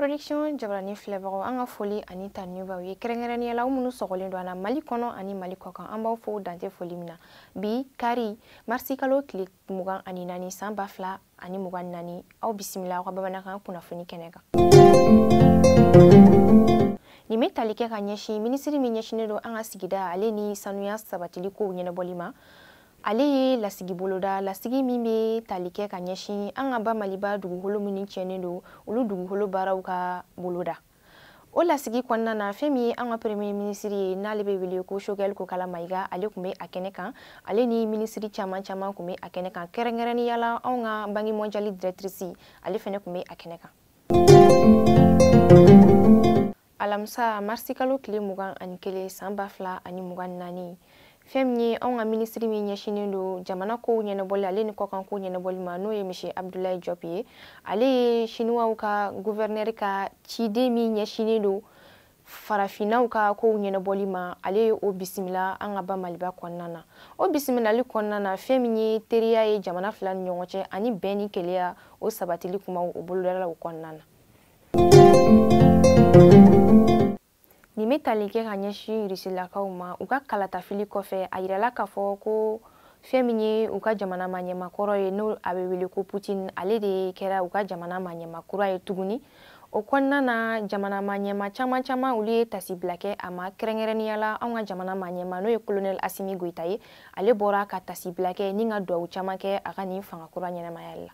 production jabarani filɛbagaw an ka foli ani tanuni b'aw ye kɛrɛnkɛrɛnnenya la aw minnu sɔgɔlen don an na mali kɔnɔ ani mali kɔkan an b'aw fo dan tɛ foli min na bi kari marisi kalo tile mugan ani naani san ba fila ani mugan ni naani aw bisimila aw ka bamanankan kunnafoni kɛnɛ kan nin bɛ tali kɛ ka ɲɛsin minisiri min ɲɛsinnen don an ka sigida ale ni sanuya sabatili kow ɲɛnabɔli ma ale ye lasigi boloda lasigi min bɛ tali kɛ ka ɲɛsin an ka ba maliba dugukolo minnu tiɲɛnen don olu dugukolo baaraw ka boloda o lasigi kɔnɔna na fɛn min ye an ka premier minisiri ye n'ale bɛ wele ko shogɛl kokala mayiga ale tun bɛ a kɛnɛ kan ale ni minisiri caman caman tun bɛ a kɛnɛ kan kɛrɛnkɛrɛnnenya la anw ka banki mɔnjali dirɛtirisi ale fɛnɛ tun bɛ a kɛnɛ kan alamisa marisi kalo tile mugan ani kelen san ba fila ani mugan ni naani fɛn min ye anw ka minisiri min ɲɛsinnen don jamana kow ɲɛnabɔli ale ni kɔkan kow ɲɛnabɔli ma n'o ye monsieur abdulayi jɔp ye ale ye siniwaw ka guvɛrinɛri ka ciden min ɲɛsinnen don farafinnaw ka kow ɲɛnabɔli ma ale ye o bisimila an ka ba maliba kɔnɔna na o bisimilali kɔnɔna na fɛn min ye teriya ye jamana fila ni ɲɔgɔn cɛ ani bɛn ni kelenya o sabatili kumaw o bolodala o kɔnɔna na nin bɛ tali kɛ ka ɲɛsin irisilakaw ma u ka kalatafili kɔfɛ a yirala k'a fɔ ko fɛn min ye u ka jamana maɲɛma kɔrɔ ye n'o a bɛ wele ko putin ale de kɛra u ka jamana maɲɛma kura ye tuguni o kɔnɔna na jamana maɲɛma caman caman olu ye tasibila kɛ a ma kɛrɛnkɛrɛnnenya la anw ka jamana maɲɛma n'o ye kolonɛli asimi goyita ye ale bɔra ka tasibila kɛ ni ka duwawu caman kɛ a ka nin fanga kura ɲɛnamayali la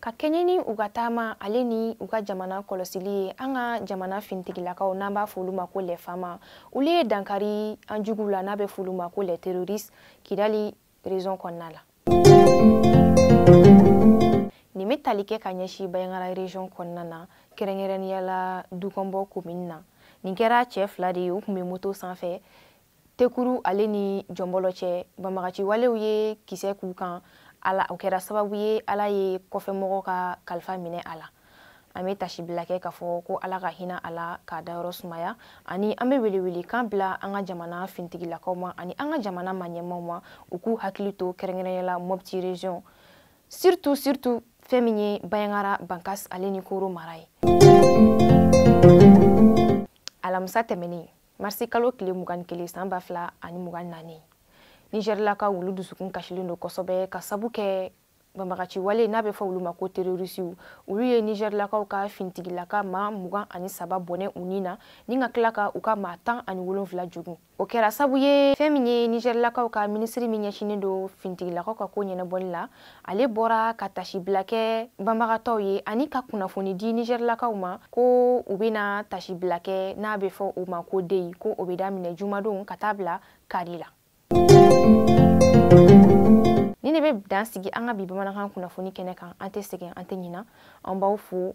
ka kɛɲɛ ni u ka taama ale ni u ka jamana kɔlɔsili ye an ka jamana finitigilakaw n'an b'a f'olu ma ko les fama olu ye dankari an juguw la n'a bɛ f'olu ma ko les terroristes kidali région kɔnɔna la nin bɛ tali kɛ ka ɲɛsin bayangara région kɔnɔna na kɛrɛnkɛrɛnnenya la dukɔnbɔ komini na nin kɛra cɛ fila de ye u tun bɛ moto sanfɛ tekuru ale ni jɔnbɔlɔ cɛ banbaganci walew ye kisɛ k'u kan ala o kɛra sababu ye ala ye kɔfɛmɔgɔ ka kalifa minɛ a la an bɛ tasibila kɛ k'a fɔ ko ala ka hinɛ a la k'a dayɔrɔ sumaya ani an bɛ welewele kan bila an ka jamana fintigilakaw ma ani an ka jamana maɲɛmaw ma u k'u hakili to kɛrɛnkɛrɛnya la mɔpti region surtout surtout fɛn min ye bayangara bankas ale ni koro mara ye alamisa tɛmɛnen marisi kalo tile mugan ni kelen san ba fila ani mugan naani nizɛrilakaw olu dusukun kasilen don kosɛbɛ ka sabu kɛ banbagaci wale n'a bɛ fɔ olu ma ko terorisiw olu ye nizɛrilakaw ka finitigilaka maa mugan ani saba bɔnɛ u ni na ni ka tila ka u ka maa tan ani wolonfila jogun o kɛra sabu ye fɛn min ye nizɛrilakaw ka minisiri min ɲɛsinnen don finitigilakaw ka ko ɲɛnabɔli la ale bɔra ka taasibila kɛ banbagatɔw ye ani ka kunnafoni di nizɛrilakaw ma ko u bɛna taasibila kɛ n'a bɛ fɔ o ma ko deyi ko o bɛ daminɛ jumadon ka taa bila kari la ni ne bɛ dan sigi an ka bi bamanankan kunnafoni kɛnɛ kan an tɛ sɛgɛn an tɛ ɲina an b'aw fo